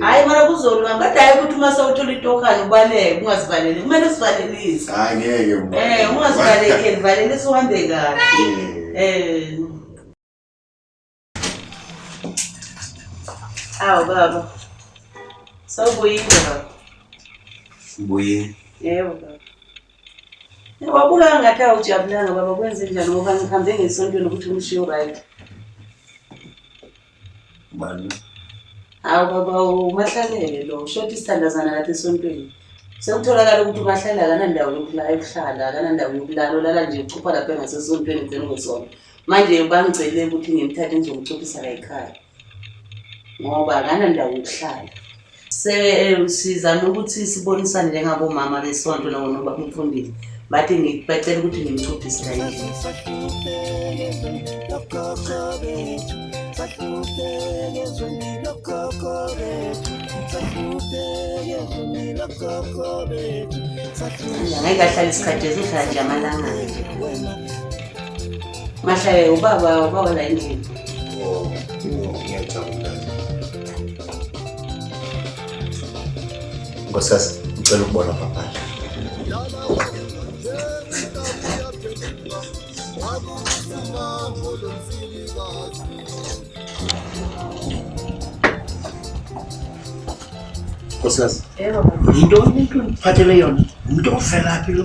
hayi mara kuzolwa ngathi hayi ukuthi uma sewuthola itokane ubaleke ungazivaleli kumele usivalelise hayi ngeke um eh, ungazivalekeli valelisa uhambe kahle um eh. awu baba sawubuyile baba ubuyile yebo baba wabukanga ngathi awujabulanga baba kwenze njani ngoba ngihambe ngesontweni ukuthi umshiyo right Bani? Hawu baba umahlalele lo shoti isithandazana kathi esontweni. Sekutholakala ukuthi umahlala akanandawo yokulala yokuhlala, akanandawo yokulala, ulala nje uchupha lapha ngasesontweni ugcina ngesonto. Manje bangicele ukuthi ngimthathe ngizomchuphisa la ekhaya. Ngoba akanandawo yokuhlala. sizame ukuthi sibonisane njengabomama besonto nabo noba umfundisi bathi bacela ukuthi ngimcuphise kayini ngeke ahlale isikhathi esihlala nje amalanga nje mahlaye ubaba ubaba la endlini oh, oh, Nkosikazi, ngicela ukubona paphandle. Nkosikazi, Yebo baba. yinto umuntu ongiphathele yona, umuntu ovelaphi lo?